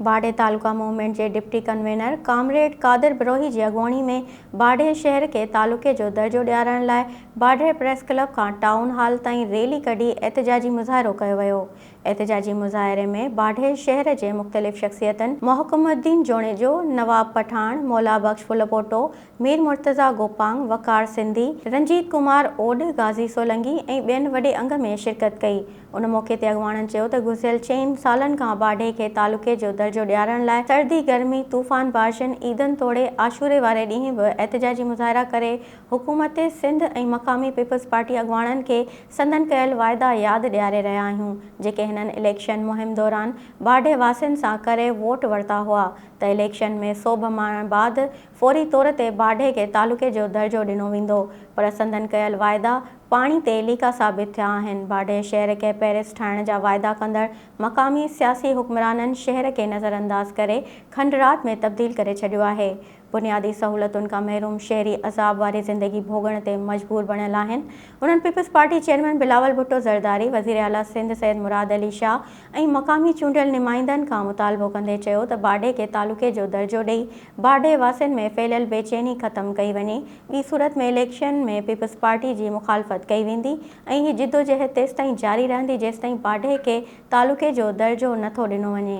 باڊهه تعلقه موومينٽ جي deputy convener comrade Qadir Brohi جي اڳواڻي ۾ باڊهه شهر کي تعلقي جو درجو ڏيارڻ لاء باڊهه پريس ڪلب کان ٽائون هال تائين ريلي ڪڍي احتجاجي مظاهرو ڪيو ويو احتجاجي مظاهري ۾ باڊهه شهر جي مختلف شخصيتن محڪم الدين جوڻيجو، نواب پٺاڻ، مولا بخش ڦلپوٽو، مير مرتضيٰ گوپانگ، وقار سنڌي، رنجيت ڪمار اوڏ، غازي سولنگي ۽ ٻين وڏي انگ ۾ شرڪت ڪئي. ان موقعي تي اڳواڻن چيو ته گذريل چئن سالن کان باڊي کي تعلقي جو درجو ڏيارڻ لاء سردي، گرمي، طوفان بارشن، عيدن توڙي عاشوري واري ڏينهن به احتجاجي مظاهرا ڪري حڪومت سنڌ ۽ مقامي پيپلز پارٽي اڳواڻن کي سندن ڪيل واعدا ياد ڏياري رهيا آهيون جيڪي هنن اليڪشن مهم دوران باڊي واسين سان ڪري ووٽ ورتا هئا ته اليڪشن ۾ سوڀ ماڻڻ بعد فوري طور تي باڊهي کي تعلقي جو درجو ڏنو ويندو پر سندن ڪيل واعدا پاڻي تي ليڪا ثابت ٿيا آهن، باڊهي شهر کي پيرس ٺاهڻ جا واعدا ڪندڙ مقامي سياسي حڪمرانن شهر کي نظر انداز ڪري کنڊرات ۾ تبديل ڪري ڇڏيو آهي، بنيادي سهولتن کان محروم شهري عذاب واري زندگي ڀوڳڻ تي مجبور بڻيل آهن، انهن پيپلزپارٽي چيئرمين بلاول ڀٽو زرداري، وزيراعليٰ سنڌ سيد مراد علي شاهه ۽ مقامي چونڊيل نمائندن کان مطالبو ڪندي چيو ته باڊهي کي تعلقي جو درجو ڏئي باڊهي واسين ۾ ڦهليل بيچيني ختم ڪئي وڃي، ٻي صورت ۾ اليڪشن ۾ پيپلز پارٽي جي مخالفت ڪئي ويندي ۽ هي جدوجهد تيستائين جاري رهندي جيستائين باڊهي کي تعلقي جو درجو نٿو ڏنو وڃي.